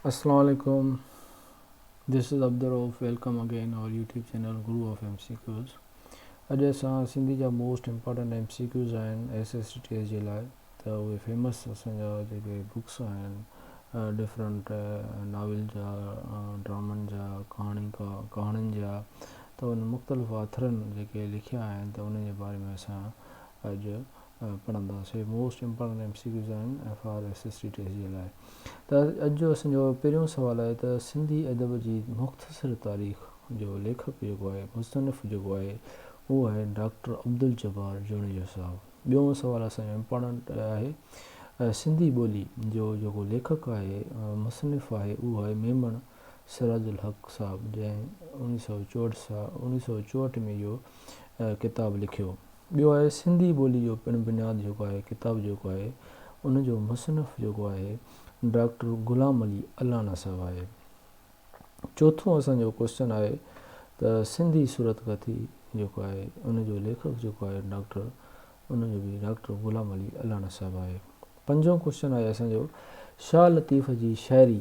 السلام عليڪم this is Abdulrauf welcome again our YouTube channel guru of M C Qs اڄ اسان سنڌي جا most important M C Qs آهن S S T T S جي لاء ته اهي فيمس اسان جا جيڪي بڪس آهن ڊفرنٹ ناول جا ڊرامن جا ڪهاڻي کا ڪهاڻين جا ته ان مختلف آٿرن جيڪي لکيا آهن ته ان جي باري ۾ اسان اڄ پڙهندا سي most important M C Qs آهن F R S S T test جي لاء ته اڄ جو اسان جو پهريون سوال آهي ته سنڌي ادب جي مختصر تاريخ جو ليکڪ جيڪو آهي مصنف جيڪو آهي اهو آهي ڊاڪٽر عبدالجبار جوڻيجو صاحب ٻيون سوال اسان جو امپارٽنٽ آهي سنڌي ٻولي جو جيڪو ليکڪ آهي مصنف آهي اهو آهي ميمڻ سراج الحق صاحب جنهن انيس سو چوهٺ سال انيس سو چوهٺ ۾ جو ڪتاب لکيو. ٻيو آهي سنڌي ٻولي جو پڻ بنياد جيڪو آهي ڪتاب جيڪو آهي ان جو مصنف جيڪو آهي ڊاڪٽر غلام علي الانا صاحب آهي. چوٿون اسان جو ڪوسچن آهي ته سنڌي صورت ڪٿي جيڪو آهي ان جو ليکڪ جيڪو آهي ڊاڪٽر ان جو به ڊاڪٽر غلام علي الانا صاحب آهي. پنجون ڪوسچن آهي اسان جو شاهه لطيف جي شاعري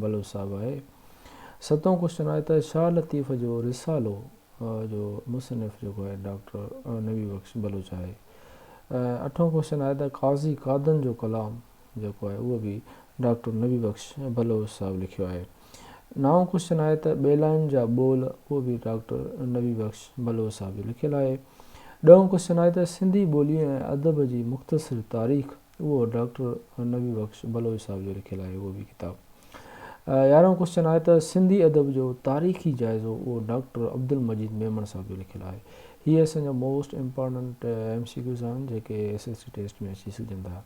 بلوچ صاحب آهي. ستون ڪوشچن آهي ته شاهه لطيف جو رسالو جو مصنف جيڪو آهي ڊاڪٽر نبي بخش بلوچ آهي. اٺون ڪوشچن آهي ته قاضي قادن جو ڪلام جيڪو آهي اهو به ڊاڪٽر نبي بخش بلوچ صاحب لکيو آهي. نائون ڪوشچن آهي ته ٻيلائن جا ٻول اهو به ڊاڪٽر نبي بخش بلوچ صاحب جو لکيل آهي. ڏهون ڪوشچن آهي ته سنڌي ٻولي ۽ ادب جي مختصر تاريخ اهو ڊاڪٽر نبي بخش بلوچ صاحب جو لکيل آهي اهو به ڪتاب. يارهون ڪوسچن آهي ته سنڌي ادب جو تاريخي جائزو اهو ڊاڪٽر عبدالمجيد ميمڻ صاحب جو لکيل آهي. هي اسان جا most important M C Qs آهن جيڪي ايس ايس سي ٽيسٽ ۾ اچي سگهجن ٿا.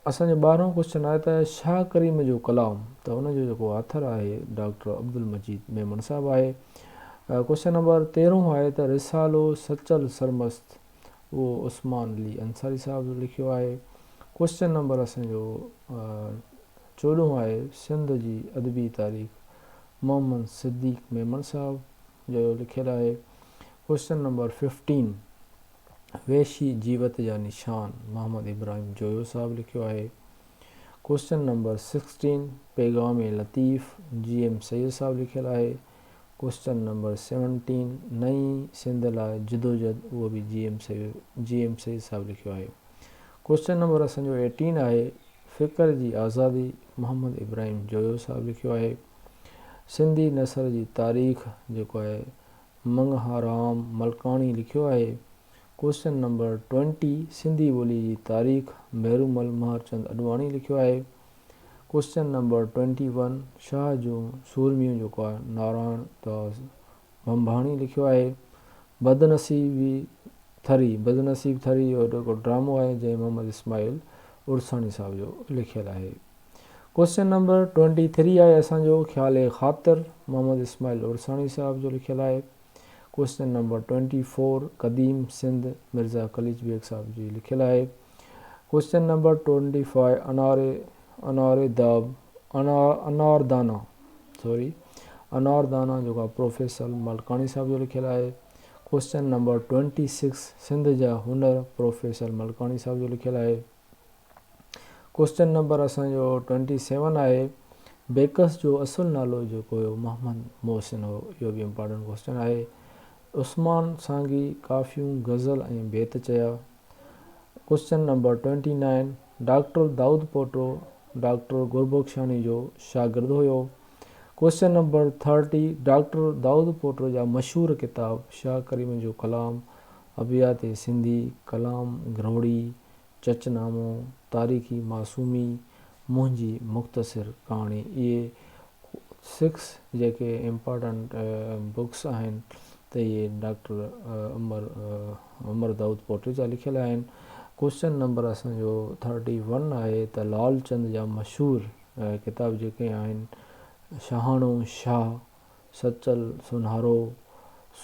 اسان جو ٻارهون ڪوسچن آهي ته شاهه ڪريم جو ڪلام ته ان جو جيڪو آٿر آهي ڊاڪٽر عبدالمجيد ميمڻ صاحب آهي. ڪوسچن نمبر تيرهون آهي ته رسالو سچل سرمست اهو عثمان علي انصاري صاحب جو لکيو آهي. ڪوئسچن نمبر اسان جو چوڏهون آهي سنڌ جي ادبي تاريخ محمد صديق ميمڻ صاحب جو لکيل آهي. ڪوئسچن نمبر ففٽين وحشي جيوت جا نشان محمد ابراهيم جويو صاحب لکيو آهي. Question number sixteen Paigham Latif G M Syed sahib لکيل آهي. ڪوسچن نمبر سيونٽين نئين سنڌ لاء جدوجھد اھو به جي ايم جي ايم سيد صاحب لکيو آھي ڪوسچن نمبر اسان جو ايٽين آھي فڪر جي آزادي محمد ابراھيم جويو صاحب لکيو آھي سنڌي نثر جي تاريخ جيڪو آھي منگھارام ملڪاڻي لکيو آھي ڪوسچن نمبر ٽوئنٽي سنڌي ٻولي جي تاريخ مھرومل مھرچند اڏواڻي لکيو آھي question number twenty one Shah جون سورميون جيڪو آهي نارائڻ داس ڀنڀاڻي لکيو آهي بدنصيبي ٿري بدنصيب ٿري اهو جيڪو ڊرامو آهي جنهن محمد اسماعيل عرساڻي صاحب جو لکيل آهي ڪوئسچن نمبر ٽوئنٽي ٿري آهي اسانجو خيال خاطر محمد اسماعيل عرساڻي صاحب جو لکيل آهي ڪوئسچن نمبر ٽوئنٽي فور قديم سنڌ مرزا قليچ بيگ صاحب جي لکيل آهي ڪوشچن نمبر ٽونٽي فائيو اناري اناري داب انار دانا سوري انار دانا جيڪو آهي پروفيسر ملڪاڻي صاحب جو لکيل آهي question number twenty six Sindh جا هنر پروفيسر ملڪاڻي صاحب جو لکيل آهي ڪوشچن نمبر اسان جو ٽونٽي سيون آهي بيڪس جو اصل نالو جيڪو هيو محمد محسن هو اهو به امپارٽنٽ ڪوشچن آهي عثمان سانگي ڪافيون غزل ۽ بيت چيا question number twenty nine doctor Daud Pota doctor Gurbuxani جو شاگرد هيو. Question number thirty doctor Daud Pota جا مشهور ڪتاب شاهه ڪريم جو ڪلام، ابيات سنڌي، ڪلام گروڙي، چچ نامو، تاريخي معصومي، منهنجي مختصر ڪهاڻي اهي سڪس جيڪي امپارٽنٽ بڪس آهن ته اهي ڊاڪٽر عمر عمر دائود پوٽي جا لکيل آهن. ڪوشچن نمبر اسان جو ٿرٽي ون آهي ته لعل چند جا مشهور ڪتاب جيڪي آهن شاهاڻو شاهه، سچل سونهارو،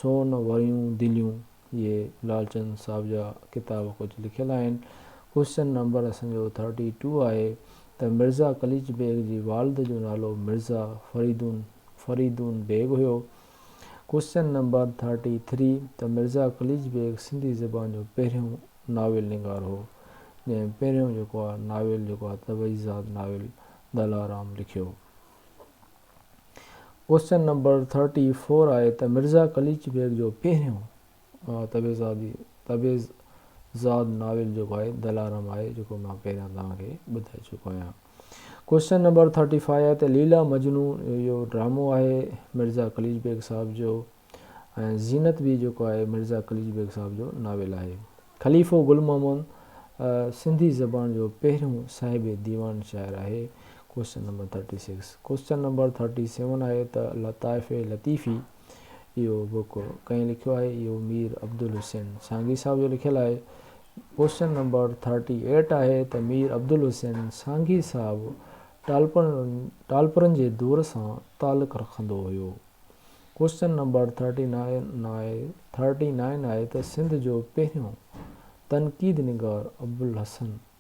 سون ويون دليون اهي لعل چند صاحب جا ڪتاب ڪجهه لکيل آهن. ڪوشچن نمبر اسان جو ٿرٽي ٽو آهي ته مرزا قليچ بيگ جي والد جو نالو مرزا فريدون فريدون بيگ هيو ڪوئسچن نمبر ٿرٽي ٿري ته مرزا قليچ بيگ سنڌي زبان جو پهريون ناول نگار هو جنهن پهريون جيڪو آهي ناول جيڪو آهي طبعي ذات ناول دلارام لکيو. ڪوئسچن نمبر ٿرٽي فور آهي ته مرزا قليچ بيگ جو پهريون. تبعزادي، تبعز زاد ناول جيڪو آهي دلارام آهي جيڪو مان پهريان توهان کي ٻڌائي چڪو آهيان. ڪوئسچن نمبر ٿرٽي فائيو آهي ته ليلا مجنون اهو ڊرامو آهي مرزا قليچ بيگ صاحب جو ۽ زينت به جيڪو آهي مرزا قليچ بيگ صاحب جو ناول آهي. خليفو گل محمد سنڌي زبان جو پهريون صاحب ديوان شاعر آهي question number thirty six. Question number thirty seven آهي ته لطائف لطيفي اهو بڪ ڪنهن لکيو آهي؟ اهو مير عبدالحسين سانگي صاحب جو لکيل آهي. ڪوشچن نمبر ٿرٽي ايٽ آهي ته مير عبدالحسين سانگي صاحب ٽالپرن جي دور سان تعلق رکندو هيو. ڪوشچن نمبر ٿرٽي نائن آهي ته سنڌ جو پهريون تنقيد نگار Abulhasan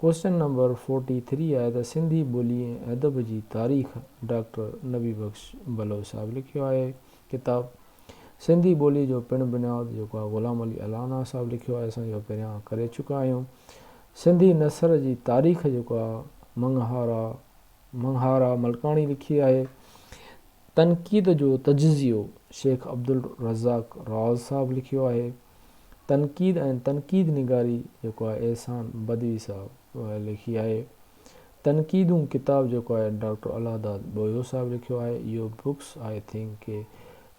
question number forty three آهي ته سنڌي ٻولي ۽ ادب جي تاريخ ڊاڪٽر نبي بخش بلوچ صاحب لکيو آهي ڪتاب سنڌي ٻولي جو پڻ بنياد جيڪو آهي غلام علي الانا صاحب لکيو آهي اسان جو پهريان ڪري چڪا آهيون سنڌي نثر جي تاريخ جيڪو آهي منگهارا منگهارا ملڪاڻي لکي آهي تنقيد جو تجزيو شيخ عبدالرزاق راز صاحب لکيو آهي تنقيد ۽ تنقيد نگاري جيڪو آهي احسان بدوي صاحب لکي آهي. تنقيدون ڪتاب جيڪو آهي ڊاڪٽر الله داد ٻوهيو صاحب لکيو آهي. اهو بڪس آئي ٿنڪ ڪي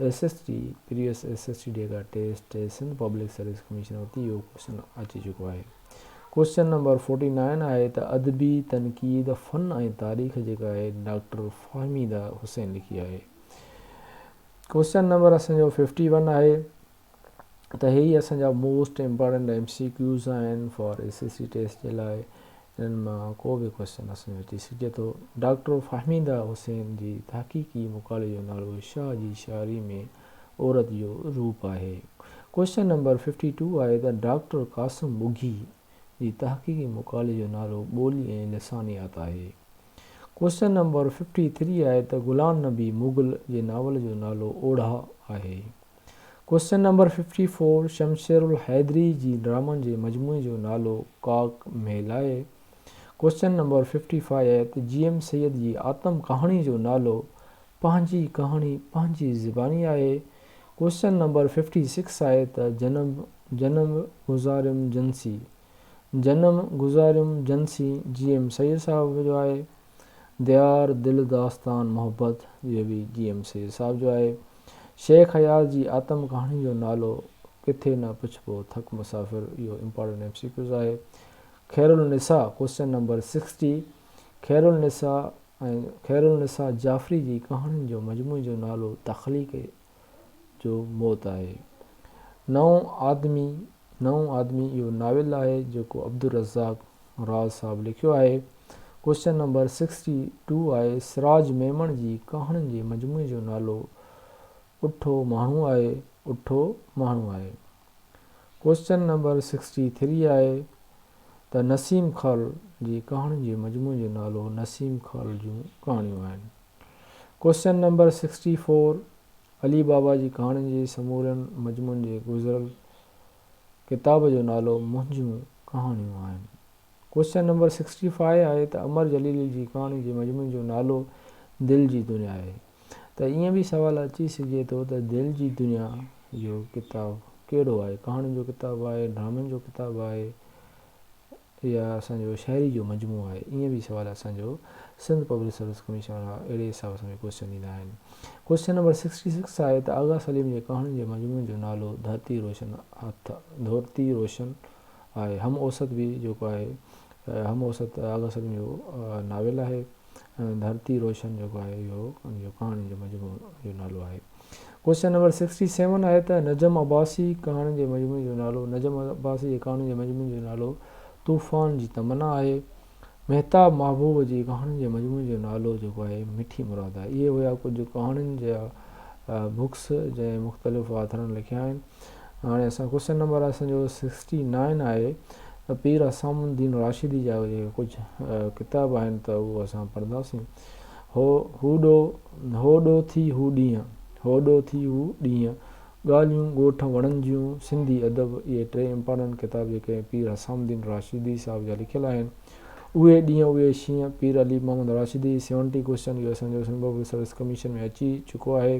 S S T previous S S T data test ۽ Sindh public service commission وٽ اهو ڪوشچن اچي چڪو آهي. ڪوشچن نمبر فورٽي نائن آهي ته ادبي تنقيد فن ۽ تاريخ جيڪا آهي ڊاڪٽر فهميده حسين لکي آهي. ڪوشچن نمبر اسان جو ففٽي ون آهي. ته هي اسان جا most important M C Qs آهن for A C C test جي لاء انهن مان ڪو به ڪويشچن اسان جو اچي سگهي ٿو ڊاڪٽر فهميده حسين جي تحقيقي مقالي جو نالو شاهه جي شاعري ۾ عورت جو روپ آهي ڪويشچن نمبر 52 آهي ته ڊاڪٽر قاسم ٻگهي جي تحقيقي مقالي جو نالو ٻولي ۽ لسانيات آهي ڪويشچن نمبر 53 آهي ته غلام نبي مغل جي ناول جو نالو اوڙها آهي question number fifty four Shamsher Alhaidari جي ڊرامن جي مجموعي جو نالو ڪاڪ ميل آهي. Question number fifty five G M Syed جي آتم ڪهاڻي جو نالو پنهنجي ڪهاڻي پنهنجي زباني آهي. ڪوئسچن نمبر ففٽي سڪس آهي ته جنم جنم گذاريم جنسي جنم گذاريم جنسي جي ايم سيد صاحب جو آهي. ديار دل داستان محبت اهو به جي ايم سيد صاحب جو آهي. شيخ اياز جي آتم ڪهاڻي جو نالو ڪٿي نه پڇبو ٿڪ مسافر اهو امپارٽنٽ ايم سي ڪيوز آهي. Khairunnisa question number sixty Khairunnisa ۽ Khairunnisa Jafri جي ڪهاڻين جو مجموعي جو نالو تخليق جو موت آهي. نئون آدمي، نئون آدمي اهو ناول آهي جيڪو عبدالرزاق راز صاحب لکيو آهي. ڪوشچن نمبر سڪسٽي ٽو آهي سراج ميمڻ جي ڪهاڻين جي مجموعي جو نالو اٺو ماڻهو آهي اٺو ماڻهو آهي. ڪوشچن نمبر سڪسٽي ٿري آهي ته نسيم خال جي ڪهاڻين جي مجموعي جو نالو نسيم خال جون ڪهاڻيون آهن. Question number sixty four Ali Baba جي ڪهاڻين جي سمورن مضمون جي گذريل ڪتاب جو نالو منهنجون ڪهاڻيون آهن ڪوئسچن نمبر سڪسٽي فائيو آهي ته امر جليل جي ڪهاڻي جي مضمون جو نالو دل جي دنيا آهي ته ائين به سوال اچي سگهجي ٿو ته دل جي دنيا جو ڪتاب ڪهڙو آهي ڪهاڻين جو ڪتاب آهي ڊرامن جو ڪتاب آهي يا اسان جو شاعري جو مجموعو آهي؟ ائين به سوال اسان جو سنڌ پبلڪ سروس ڪميشن وارا اهڙي حساب سان به ڪوئسچن ڏيندا آهن. ڪوئسچن نمبر سڪسٽي سڪس آهي ته آغا سليم جي ڪهاڻين جي مجموعي جو نالو ڌرتي روشن هٿ ڌرتي روشن آهي. هم اوسط به جيڪو آهي هم اوسط آغا سليم جو ناول آهي. ڌرتي روشن جيڪو آهي اهو جو ڪهاڻين جو مجموعو جو نالو آهي ڪوشچن نمبر سڪسٽي سيون آهي ته نجم عباسي ڪهاڻين جي مجموعي جو نالو نجم عباسي جي ڪهاڻين جي مجموعي جو نالو طوفان جي تمنا آهي مهتاب محبوب جي ڪهاڻين جي مجموعي جو نالو جيڪو آهي مٺي مراد آهي اهي هيا ڪجهه ڪهاڻين جا بڪس جنهن مختلف آٿرن لکيا آهن هاڻي اسان ڪوشچن نمبر اسان جو سڪسٽي نائن آهي ته پير حسام الدين راشدي جا جيڪي ڪجهه ڪتاب آهن ته اهو اسان پڙهنداسين هو هو ڏو هو ڏو ٿي هو ڏينهن هو ڏو ٿي هو ڏينهن ڳالهيون ڳوٺ وڻن جون سنڌي ادب اهي ٽي امپارٽنٽ ڪتاب جيڪي پير حسام الدين راشدي صاحب جا لکيل آهن اهي ڏينهن اهي شينهن پير علي محمد راشدي سيونٽي ڪوشچن اهو اسان جو سنڌ پبلڪ سروس ڪميشن ۾ اچي چڪو آهي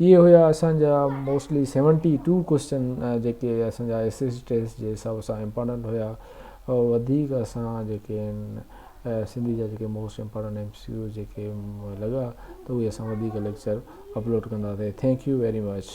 اهي هيا اسان جا موسٽلي سيونٽي ٽو ڪوسچن جيڪي اسان جا ايس ايس ٽيسٽ جي حساب سان امپارٽنٽ هيا وڌيڪ اسان جيڪي آهن سنڌي جا جيڪي most important M C Qs جيڪي لڳا ته اهي اسان وڌيڪ ليڪچر اپلوڊ ڪنداسين ٿينڪ يو ويري مچ